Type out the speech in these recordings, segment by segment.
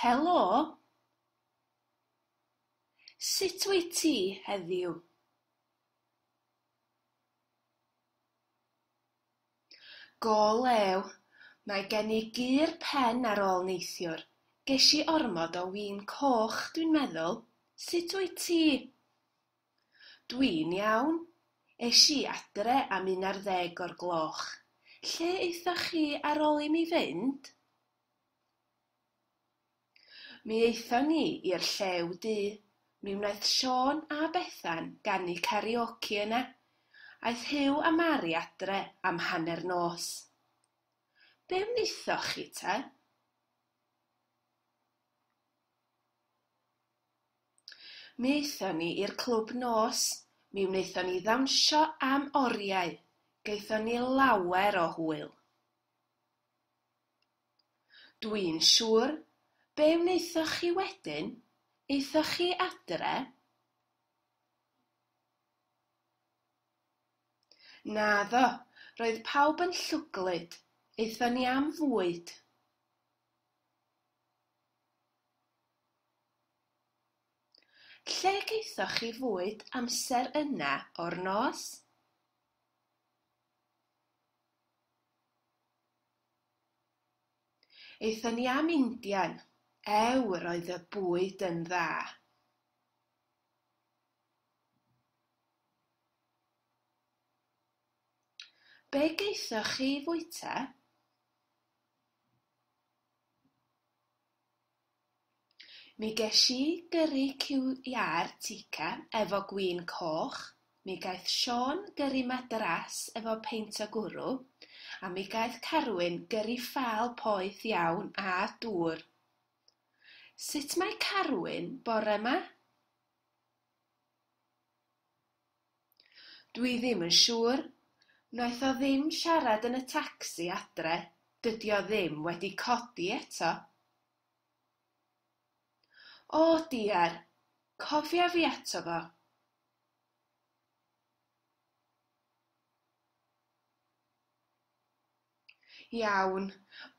Helo! Sut wyt ti heddiw? Go lew, mae gen i gur pen ar ôl neithiwr, ges i ormod o win coch dwi'n meddwl, sut wyt ti? Dwi'n iawn. Es i adre am un ar ddeg o'r gloch. Lle aethoch chi ar ol i mi fynd? Mi aethon ni i'r Llew Du. Mi wnaeth Siôn a Bethan ganu karaoke yna. Aeth Huw a Mari adre am hanner nos. Be wnaethoch chi te? Mi aethon ni i'r clwb nos, mi wnaethon ni ddawnsio am oriau, gaethon ni lawer o hwyl. Dw i'n siŵr, be wnaethoch chi wedyn? Aethoch chi adre? Naddo, roedd pawb yn llwglyd, aethon ni am fwyd. Lle gaethoch chi fwyd amser yna o'r nos? Aethon ni am Indian. Ew, yr oedd y bwyd yn dda. Be gaethoch chi fwyta? Mi gesh i gyrri ciwia'r Tikka efo gwin coch, mi gaeth Siôn gyrri Madras efo peint o gwrw, a mi gaeth Carwyn gyrri ffâl poeth iawn â dŵr. Sut mae Carwyn bore 'ma? Dwi ddim yn siŵr. Wnaeth o ddim siarad yn y tacsi adre, dydi o ddim wedi codi eto. O diar, cofia fi ato fo. Iawn,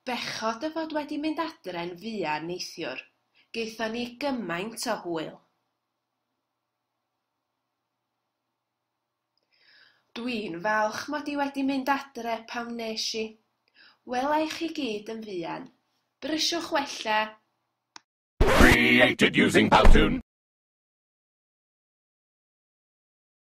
bechod o fod wedi mynd adre'n fuan neithiwr, gaethon ni gymaint o hwyl. Dwi'n falch mod i wedi mynd adre pan wnes i. Wela i chi gyd yn fuan. Brysiwch wella! Created using Powtoon!